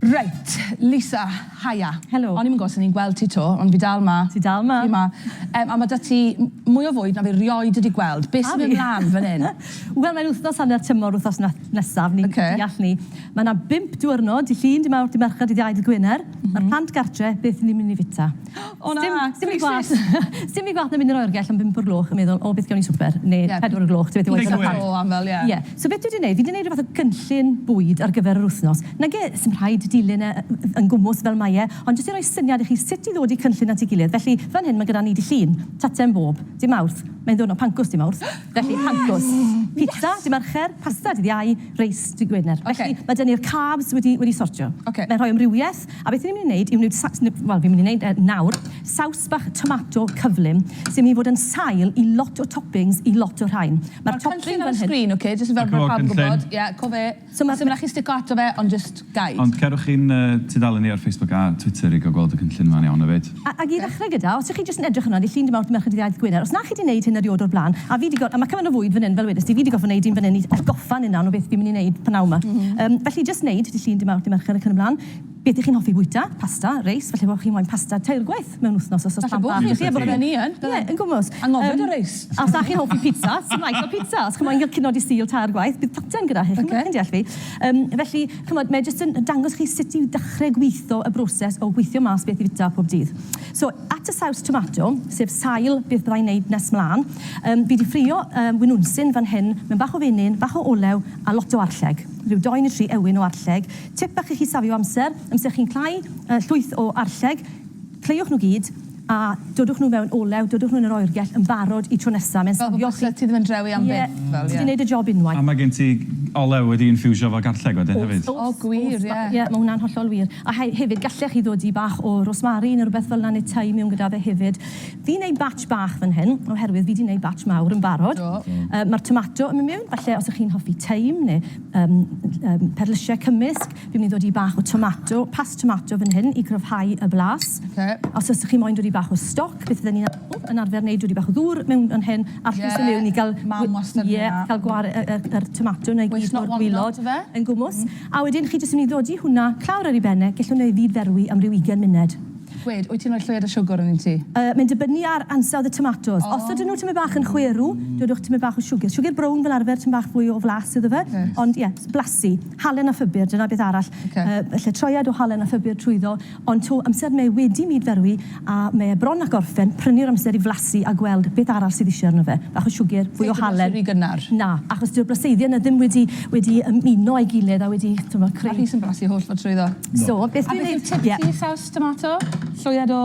Reit, Lisa, haia. Helo. O'n i'm yn gwybod os o'n i'n gweld ti 'to, ond fi dal 'ma. Ti dal 'ma. Fi 'ma. Yym, a ma' 'da ti m- mwy o fwyd na fi 'rioed wedi gweld. Be' sy'n mynd mlan fan 'yn? Wel, mae'n wythnos hanner tymor wythnos na- nesaf, ni'n... Ocê. ...deall 'ny. Ma' 'na bump diwrnod, dy' Llun, dy' Mawrth, dy' Mercher, dydd Iau, dydd Gwener. M-hm. Ma'r plant gartre, beth 'yn ni'n myn' i fita? O na! Sdim sdim rhy gwaeth. Sdim rhy gwaeth na mynd i'r oergell am bump o'r gloch a meddwl, O, beth gewn ni swper? Neu... Ie. ...pedwar o'r gloch, ti byth yn gwbod... Big win. ...o aml, ie. Ie. So beth dwi 'di neud, fi 'di neud rhyw fath o gynllun bwyd ar gyfer yr wythnos. Nage, sdim rhaid dilyn e yn gwmws fel mae e, ond jyst i roi syniad i chi sut i ddod i cynllun at ei gilydd. Felly, fan hyn mae gyda ni Dy' Llun, Tacsen bob dy' Mawrth, mae'n ddiwrnod pancws dy' Mawrth, felly pancws. Pizza dy' Mercher, pasta dydd Iau, reis dy' Gwener. Felly, mae 'da ni'r carbs wedi wedi sortio. Mae'n rhoi amrywiaeth. A beth 'y ni'n mynd i wneud yw wneud saws, wel fi'n mynd i wneud e nawr, saws bach tomato cyflym sy'n mynd i fod yn sail i lot o toppings i lot o rhain. Ma'r topping fan hyn... Ma'r cynllun ar y sgrin, ok, jyst fel bod pawb yn gwybod. Ie, co fe. So ma'... Sdim raid chi stico ato fe, ond jyst guide. Ond cerwch i'n tudalen ni ar Facebook a Twitter i gael gweld y cynllun 'ma'n iawn hefyd. A, ag i ddechrau gyda, os y'ch chi jyst yn edrych yna, ni llun dim awr Merched Iaith Gwener, os na chi 'di 'neud hyn eriod o'r bla'n, a fi 'di gor-, a ma' cymaint o fwyd fan hyn, fel wedest ti, fi 'di gorffod 'neud un fan hyn i atgoffa ni nawr o beth fi'n mynd i 'neud p'nawn 'ma. Yym, felly jyst 'neud dy llun dim awr dy Mercher ac yn y bla'n. Beth y'ch chi'n hoffi bwyta, pasta, reis, falle bo' chi'n moyn pasta tair gwaith mewn wthnos os o's plant bach 'da chi. Falle bo' chi, bydden i yn, bydden. Ie, yn gwmws. Anghofio dy reis. A os na chi'n hoffi pitsa, sdim raid cael pitsa, os chi moyn cael cino Dy Sul tair gwaith, bydd potel gyda chi, chi'n deall fi. Yym, felly, Chimod, mae jyst yn dangos chi sut i ddechrau gweitho y broses o weithio mas beth i fwyta pob dydd. So, at y saws tomato, sef sail beth bydda i'n wneud nes mlaen. Yym, fi 'di ffrio yym winwnsyn fan hyn, mewn bach o fenyn, bach o olew a lot o arlleg. Rhyw dou neu tri ewyn o arlleg. Tip bach i chi safio amser, amser chi'n cl'au yy llwyth o arlleg. Cleiwch nhw gyd, a dodwch nhw mewn olew, dodwch nhw yn yr oergell yn barod i tro nesa, mae'n safio chi... Fel byse ti ddim yn drewi am byth, fel ie. Ti 'di neud y job unwaith. A mae gen ti olew wedi infiwsio efo garlleg wedyn hefyd? Oes, oes. O gwir, ie. Ie, mae hwnna'n hollol wir. A he- hefyd, gallech chi ddodi bach o rosmari neu rwbeth fel 'na neu thyme miwn gyda fe hefyd. Fi'n neud batch bach fan hyn, oherwydd fi 'di neud batch mawr yn barod. Do. Yy ma'r tomato yn myn' miwn, falle os 'ych chi'n hoffi thyme neu yym yym perlysie cymysg. Fi'n mynd i ddod i bach o tomato past tomato fan hyn i gryfhau y blas. Oce. Os fysa chi moyn dod i bach o stoc beth fydden ni'n yn arfer neud dod i bach o ddŵr mewn fan hyn a llwyth o mewn i ga'l... Ie mam wastad yn neud 'na. ...ie ca'l gwar- yy yy yr yr tomato 'na i gyd o'r gwilod yn gwmws. A wedyn chi jyst yn myn' i ddodi hwnna clawr ar ei ben e gellwn e ddifferwi am ryw ugen munud. Gwed, wyt ti'n roi llwyr o siwgwr arnyn ti? Yy mae'n dibynnu ar ansawdd y tomatos. O! Os ydyn nw tymed bach yn chwerw dodwch tymed bach o siwgyr. Siwgyr brown fel arfer tymed bach fwy o flas iddo fe. Reit. Ond ie, blasu. Halen a Phupur, dyna beth arall. Oce. Yy felly troiad o halen a phupur trwyddo, ond 'to amser mae wedi myd-ferwi a mae e bron ac orffen, prynu'r amser i flasu a gweld beth arall sydd isie arno fe. Bach o siwgr, fwy o halen. Ti 'di blasu rhy gynnar. Na, achos dyw'r blaseiddiau 'na ddim wedi wedi ymuno a'i gilydd a wedi, t'mod, creu... A Rhys yn blasu holl ffordd trwyddo. So, beth dwi'n neud... A beth yw'r tip i ti, saws tomato? Lloiad o?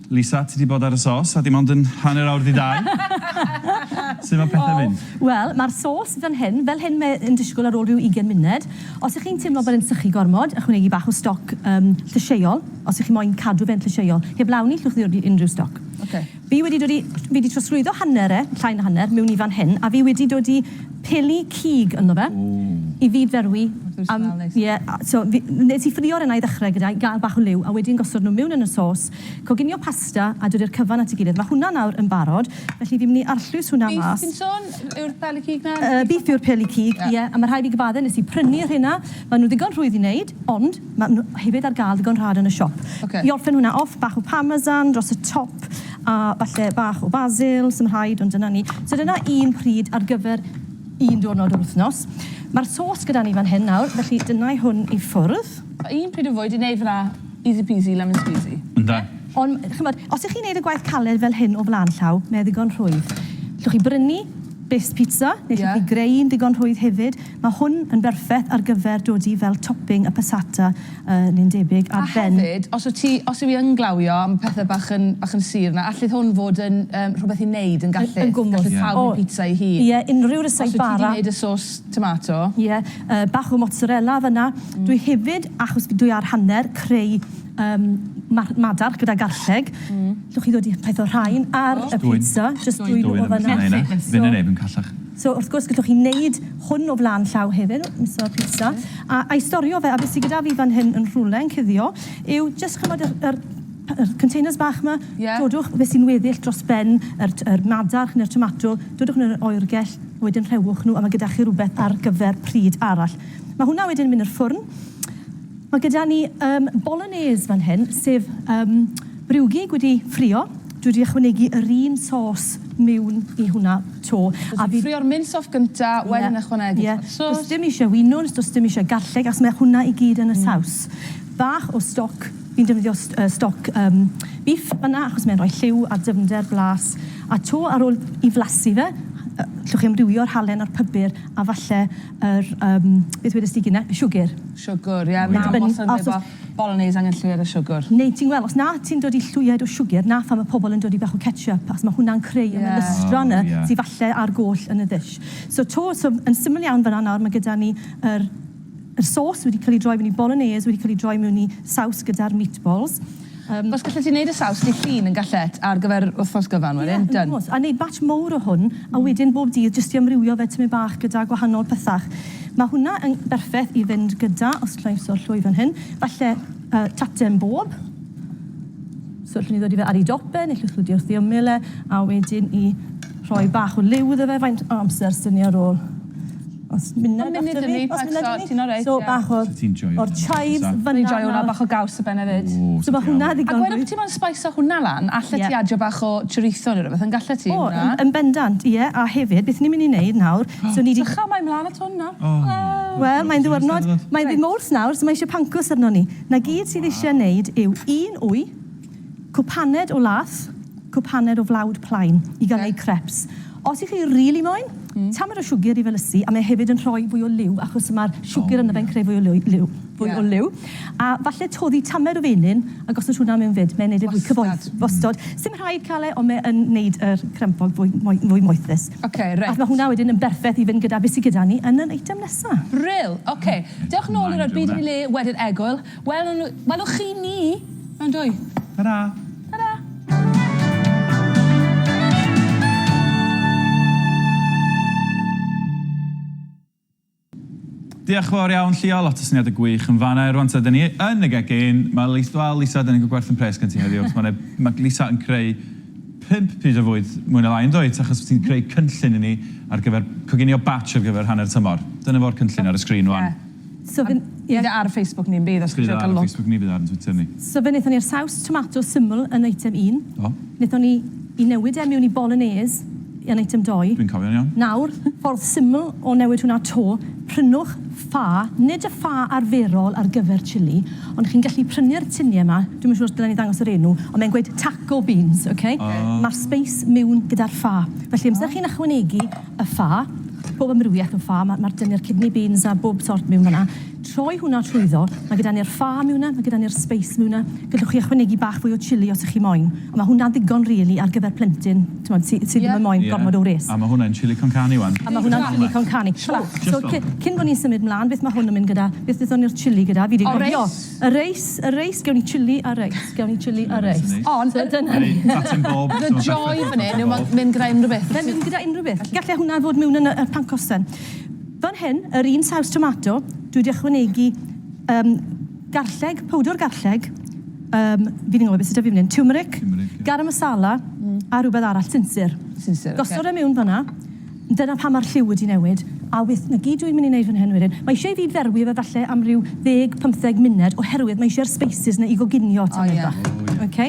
Lisa, ti 'di bod ar y sos a dim ond yn hanner awr 'di dau. Sut mae pethau'n mynd? O, wel, mae'r sos fan hyn, fel hyn mae e'n disgwyl ar ôl rhyw ugain munud. Os y'ch chi'n teimlo bod e'n sychu gormod, ychwanegu bach o stoc yym llysieuol, os y'ch chi moyn cadw fe'n llysieuol. Heblaw 'ny, llwch ddod i unrhyw stoc. Ocê. Fi wedi dod i... fi 'di trosglwyddo hanner e, llai na hanner, mewn i fan hyn, a fi wedi dod i peli cig ynddo fe... Ww. ...i fyd-ferwi am... Ww, smell neis. ...ie, a so fi... nes i ffrio rheina i ddechrau gyda i gael bach o liw, a wedyn gosod nhw mewn yn y sos, Coginio pasta a dod i'r cyfan at ei gilydd. Mae hwnna nawr yn barod, felly fi'n mynd i arllwys hwnna mas. Beef ti'n sôn? Yw'r peli cig 'na? Yy, beef yw'r peli cig, ie. A ma' rhai fi gyfadde, nes i prynu rheina. Ma' nw ddigon rhwydd i neud, ond ma' nw hefyd ar ga'l ddigon rhad yn y siop. Ocê. I orffen hwnna off, bach o parmesan dros y top, a falle bach o basil, s'im rhaid, ond dyna ni. So dyna un pryd ar gyfer un diwrnod yr wthnos. Ma'r sos gyda ni fan hyn nawr, felly dyna i hwn i ffwrdd. Un pryd o fwyd i neud fyn 'na. Easy peasy lemon squeezy. Yndan. Ond, ch'mod, os y'ch chi'n neud y gwaith caled fel hyn o flan llaw, mae e ddigon rhwydd. Llwch chi brynu best pizza, neu llwch chi greu un digon rhwydd hefyd. Mae hwn yn berffeth ar gyfer dod i fel topping y passata, yy, neu'n debyg, ar ben... A hefyd, os wt ti, os yw 'i yn glawio a ma' pethe bach yn, bach yn sur 'na, allith hwn fod yn, yym, rhwbeth i neud yn gallith. Yn gwmws. Gallith pawb neud pizza 'i hun. Ie, unrhyw resypau arall. Os wt ti 'di neud y sauce Tomato. Ie, yy bach o mozzarella fynna. Dwi hefyd, achos fi- dwi ar hanner, creu yym ma- madarch gyda garlleg. Llwch chi ddod i peth o rhain ar y pizza, jyst dwyn o fynna. Fyn 'yn efyn callach. So wrth gwrs gallwch chi neud hwn o flan llaw hefyd, miso pizza, a a'i storio fe, a be' sy gyda fi fan hyn yn rhwle yn cuddio yw jyst ch'mod yr yr p- yr containers bach 'ma? Ie. Dodwch be' sy'n weddill dros ben yr t- yr madarch ne'r tomato, dodwch yn yr oergell, Wedyn rhewch nhw a mae gyda chi rhywbeth ar gyfer pryd arall. Mae hwnna wedyn yn mynd i'r ffwrn. Mae gyda ni um, bolognese fan hyn, sef um, briwgig wedi ffrio. Dwi wedi ychwanegu yr un sos miwn i hwnna to. A fi... Ffrio'r mince off gynta, yeah, wedyn ychwanegu yeah. sos. Does dim eisiau winwns, does dim eisiau garlleg, achos mae hwnna i gyd yn y mm. saws. Bach o stoc Fi'n defnyddio stoc bîff fan'na achos mae'n rhoi lliw a dyfnder blas, a 'to ar ôl i flasu fe, allwch chi amrywio'r halen a'r pybyr a falle yr yym beth wedest ti Gina? Y siwgr? Siwgr, ie. Mae'n dibynnu os oes efo bolognese angen lliwiad o siwgr. Neu ti'n gweld, os na ti'n dod i lliwiad o siwgr, 'na phan mae pobl yn dod i bach o ketchup, achos mae hwnna'n creu y melystra 'na sy falle ar goll yn y ddish. So 'to, so yn syml iawn fan'na nawr, mae gyda ni yr Yr sos wedi cael ei droi mewn i bolonaise wedi cael ei droi mewn i saws gyda'r meatballs. Yym. Os gallet ti neud y saws dy hun yn gallet ar gyfer wthnos gyfan wedyn. Ie yn done. Gwrs. A neud batch mowr o hwn a wedyn bob dydd jyst i amrywio fe tymed bach gyda gwahanol pethach. Ma hwnna yn berffeth i fynd gyda, os allai iwso'r llwy fan hyn, falle yy tate yn bob. So allwn ni ddod i fe ar ei dop e neu llwch ddod i wrth ei ymyl e a wedyn i rhoi bach o liw iddo fe faint o amser sdynia rôl. Os munud after me. Os munud after me. So ti'n alright? So bach o'r... So ti'n joio hwnna? O'r chives fynna nawr. Fi'n joio hwnna, bach o gaws ar ben efyd. O, so ti'n iawn. A gweud wrth ti mo'n sbeiso hwnna lan, allet ti adio bach o chorizo neu rywbeth, yn gallet ti hwnna? O, yn bendant, ie. A hefyd, beth ni'n mynd i neud nawr, so ni 'di... Sych ymlaen mlan at hwn nawr. Wel, mae'n ddiwrnod, mae'n ddydd Mowrth nawr, so mae eisiau pancws arnon ni. 'Na gyd sydd eisiau neud yw un wy, Cwpaned o lath, cwpaned o flawd plaen i gael eu crêps. Os y'ch chi rili moyn, tamaid o siwgr i felysu a mae hefyd yn rhoi fwy o liw achos mae'r siwgr ynddo fe'n creu fwy o liw, fwy o liw. A falle toddi tamaid o fenyn a gosod hwnna mewn 'fyd, mae'n neud e fwy cyfoeth. Wastad. Wastad. Sdim rhaid cael e ond mae yn neud yr crempog fwy moe- fwy moethus. Ocê reit. Ac mae hwnna wedyn yn berffeth i fynd gyda be sy gyda ni yn yr eitem nesa. Brill! Ocê. Diolch nôl i roi byd yn ei le wedyn Egwyl. Welwn nhw... Welwch chi ni mewn dwy. Ta-ra. Ta-ra. Diolch yn fawr iawn Llio, lot o syniadau gwych yn fan'na. Rwan ta, dan ni yn y gegin. Mae Lis- wel Lisa, dan ni'n cael gwerth yn pres gen ti heddiw, achos mae 'na... mae Lisa yn creu pump pryd o fwyd mwy na lai, yn dwyt? Achos ti'n creu cynllun i ni ar gyfer coginio batch ar gyfer hanner tymor. Dyna fo'r cynllun ar y sgrin rwan. So fyn- ie. Bydd e ar Facebook ni yn bydd os chi'n trio ca'l look. Bydd e ar Facebook ni bydd e ar 'yn Twitter ni. So fe nethon ni'r saws tomato syml yn item un. Do. Nethon ni 'i newid e miwn i bolonaise yn item dou. Dwi'n cofio'n iawn. Nawr, ffordd syml o newid hwnna 'to, prynwch ffa, nid y ffa arferol ar gyfer chilli, ond chi'n gallu prynu'r tinie 'ma, dwi'm yn siŵr os dylen ni ddangos yr enw, ond mae'n gweud taco beans, ok? Ma'r sbeis miwn gyda'r ffa. Felly amser chi'n ychwanegu y ffa, pob amrywiaeth o ffa, mae'r dyni'r kidney beans a bob sort miwn fanna, troi hwnna trwyddo, mae gyda ni'r ffa miwna, mae gyda ni'r spice miwna, gallwch chi ychwanegu bach fwy o chili os ych chi moyn, ond mae hwnna'n ddigon rili ar gyfer plentyn, t'mod, sy sy ddim yn moyn gormod o wres. A mae hwnna'n chili con carne wan. A mae hwnna'n chili con carne. Shwt? So cyn bo ni'n symud mlan, beth mae hwn yn mynd gyda, beth wnaethon ni'r chili gyda, fi 'di cofio. Y reis, y reis, gewn ni chilli a reis, gewn ni chilli a reis. Ond ydyn hynny... Reit, Tatyn Bob. The joy fan 'yn yw ma' mynd gyda unrhyw beth. Mae'n mynd gyda unrhyw beth. Galle hwnna fod miwn yn y pancos then. Fan hyn, yr un saws tomato, dwi wedi ychwanegu yym garlleg, powdwr garlleg, yym fi'n anghofio beth sy 'da fi fan 'yn, tiwmeric, garam masala a rhywbeth arall, sinsir. Sinsir, ocê. Gosod e miwn fan'na. Dyna pam mae'r lliw wedi newid. A wyth, 'na gyd dwi'n mynd i neud fan hyn wedyn. Mae eisiau i fi ferwi fe falle am ryw ddeg, pymtheg munud oherwydd mae eisiau'r speisys 'na i goginio tamaid bach. O ie. Ok?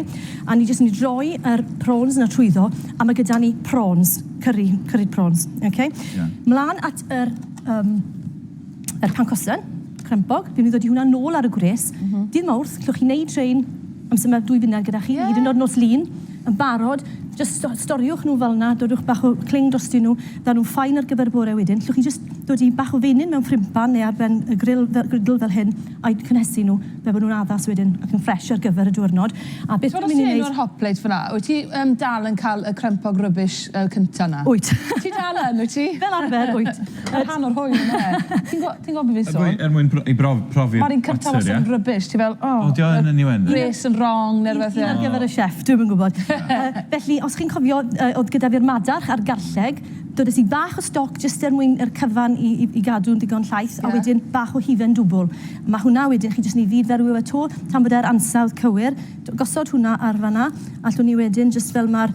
A ni jyst yn mynd i droi yr prawns 'na trwyddo a mae gyda ni prawns, curry, curried prawns. Ok? Ie. Mlan at yr yym yr pancosen, crempog, fi'n mynd i ddod i hwnna nôl ar y gwres. Mm -hmm. Dydd Mawrth, llwch chi wneud train amser mae dwy funud gyda chi, yeah. hyd yn oed nos lun, yn barod, just storiwch nhw fel yna, dodwch bach o cling dros dyn nhw, dda nhw'n ffain ar gyfer y bore wedyn. Llwch chi just dod i bach o fenyn mewn ffrimpan neu ar ben y grill, grill fel hyn, a'i cynhesu nhw, fe bod nhw'n addas wedyn ac yn ffres ar gyfer y diwrnod. A beth dwi'n mynd i wneud... Ti'n hot plate fyna, wyt ti um, dal yn cael y crempog rybys uh, cynta na? Wyt. ti dal yn, wyt ti? Fel arfer, wyt. Mae rhan o'r hwyl yna. Ti'n gwbo- ti'n gwbo be fi'n sôn? Er mwyn br- i brof- profi'r Ma'r un cynta batter, wastad yn rubbish, ti fel oh. O 'di o yn yn UN? Res yn wrong ne' rwbeth ie. Un ar gyfer y chef, dwi'm yn gwbod. Felly os chi'n cofio yy o'dd gyda fi'r madarch a'r garlleg, dodes i bach o stoc jyst er mwyn yr cyfan i i i gadw'n digon llaith. Ie. A wedyn bach o hufen dwbwl. Ma' hwnna wedyn chi jyst yn 'i fyd-ferwi fe 'to tan bod e'r ansawdd cywir. Gosod hwnna ar fan 'na, allwn ni wedyn jyst fel ma'r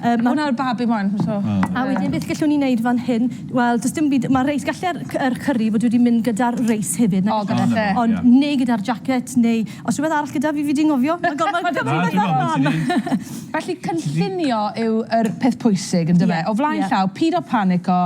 Yy ma' hwnna ar babi wan so. A wedyn beth gellwn ni neud fan hyn? Wel do's dim byd ma' reis galle c- yr curry fod wedi mynd gyda'r reis hefyd nag o's? O galle. Ond neu gyda'r jacket neu os rwbeth arall gyda fi fi di ngofio. Ma' gormod o bethe fel 'na mlan. Felly cynllunio yw yr peth pwysig yndyfe? O flaen llaw pido panico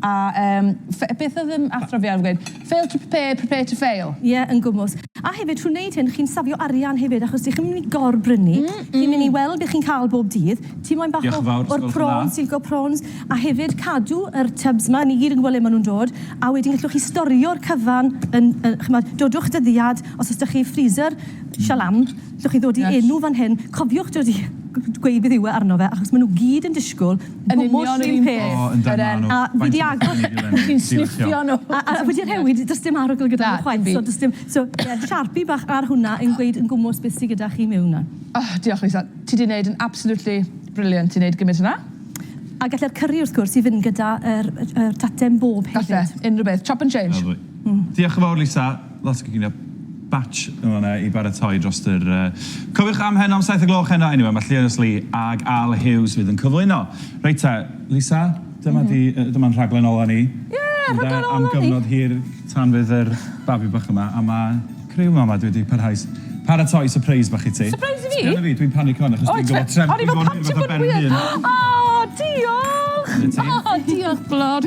A yym fe- beth oedd yn athro fi arfer gweud? Fail to prepare, prepare to fail. Ie, yn gwmws. A hefyd, trwy wneud hyn, chi'n safio arian hefyd, achos dych chi'm yn mynd i gor-brynu. Chi'n mynd i weld be chi'n cael bob dydd. Ti moyn bach o... Diolch yn fawr, os gwelwch yn dda. ...o'r prawns, silco prawns. A hefyd, cadw yr tubs 'ma, ni gyd yn gwybod le maen nhw'n dod, a wedyn gallwch chi storio'r cyfan yn, yy, chimod, dodwch dyddiad, os oes 'da chi freezer, shalom. Allwch chi ddod i enw fan hyn, cofiwch dod i gweud beth yw e arno fe, achos maen nhw gyd yn disgwyl gwmws yr un peth. O yndan, maen nhw. A fi 'di agor... Chi'n sniffio nhw. A wedi rhewi, does dim arogl gyda nhw chwaith, so does dim... So ie, sharpie bach ar hwnna yn gweud yn gwmws beth sydd gyda chi mewn 'na. O, diolch Lisa. Ti 'di wneud yn absolutely brilliant i wneud gymaint o 'na. A gallai'r cyri wrth gwrs i fynd gyda'r tatem bob hefyd. Gallai, unrhyw beth. Chop and change. Lyfli. Diolch yn fawr Lisa. Lasgogina batch yn fan'na i baratoi drost yr yy cofiwch am heno am saith o gloch heno eniwe ma' Llionis Lee ag Al Hughes fydd yn cyflwyno. Reit te, Lisa, dyma di yy dyma'n rhaglen ola ni. Ie, rhaglen ola ni! Ynde, am gyfnod hir tan fydd yr babi bach yma a ma' criw mama dwi di parhau s- paratoi sypreis bach i ti. Sypreis i fi? Sbia ar fi, dwi'n panico hwn achos dwi'n gwbo trem- dwi'n gwbo rhywbeth am ben fy hun. O diolch! O diolch Glwr.